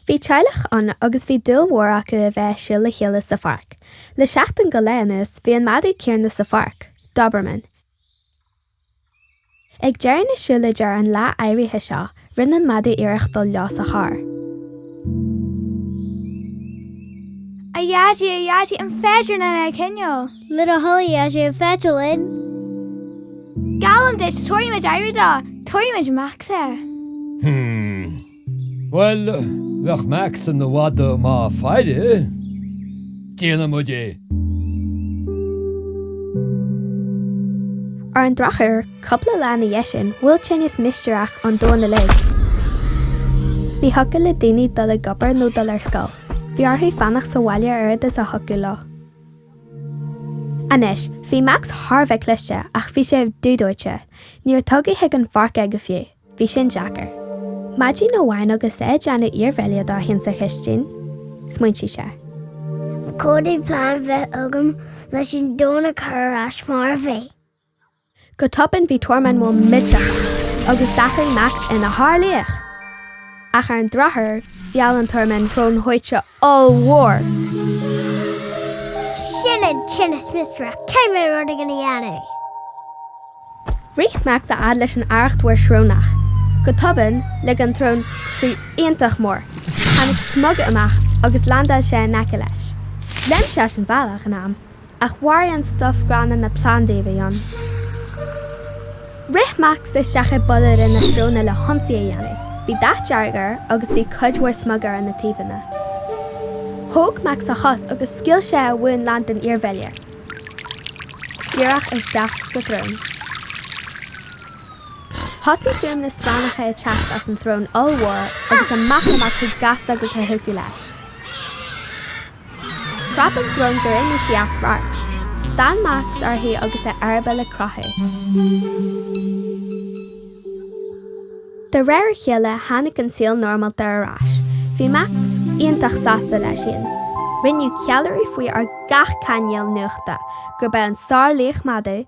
Bhí teaghlach ann agus bhí dúil mhór acu a bheith ag siúl le chéile sa pháirc. Le seachtain go leith anuas bhí an madadh céanna sa pháirc, Doberman, Ag deireadh na siúlóide ar an lá áirithe seo, rinne an madadh iarracht dul leo sa charr. A Dhaidí, a Dhaidí, an féidir linn é a choinneáil? Le do thoil, a Dhaidí, an féidir linn? Geallaim duit, tabharfaimid aire dó, tabharfaimid Max air. Hmm. Bhuel, bheadh Max ina mhadadh maith faire, déanfaidh muid é. Ar an drochuair, cupla lá ina dhiaidh sin, bhuail tinneas mistéireach an domhan uilig. Ní thiocfadh le daoine dul ag obair nó dul ar scoil. Bhí orthu fanacht sa bhaile a oiread is a thiocfadh leo. Anois, bhí Max thar a bheith cliste, ach bhí sé dúdóite. Níor tugadh chuig an pháirc é go fiú. Bhí sin deacair. Maidin amháin agus é ag déanamh iarbhéile dó féin sa chistin, smaointigh sé. Caithfidh plean bheith agam leis an domhan a chur ar ais mar a bhí. Go tobann bhí tormán mór millteach ann agus d'athraigh Max ina shárlaoch! Ach ar an drochuair, mheall an tormán srón shuaite Ollmhór. Sin an tinneas mistéireach, caithfidh mé rud éigin a dhéanamh. Rith Max a fhad leis an Arracht Mhór Shrónach. Go tobann, lig an tsrón sraoth iontach mór. Tháinig smug amach agus leaindeáil sé in aice leis. Léim sé as an bhealach in am. Ach mharaigh an stuif gránna na plandaí a bhí ann. Rith Max isteach i bpolláire na sróine le hionsaí a dhéanamh. Bhí dath dearg air agus bhí cuid mhór smuga ar na taobhanna. Thóg Max a chos agus scaoil sé a mhún lán den iarbhéile díreach isteach sa tsrón. Thosaigh fuaimeanna srannacha ag teacht as an tsrón ollmhór agus amach le Max chomh gasta agus a thiocfadh leis. Chrap an tsrón gur imigh sí as radharc. Stán Max uirthi agus a eireaball ag croitheadh. De réir a chéile tháinig an saol normálta ar ais. Bhí Max iontach sásta leis féin. Rinneadh ceiliúradh faoi ar gach cainéal nuachta gurb é an sárlaoch madaidh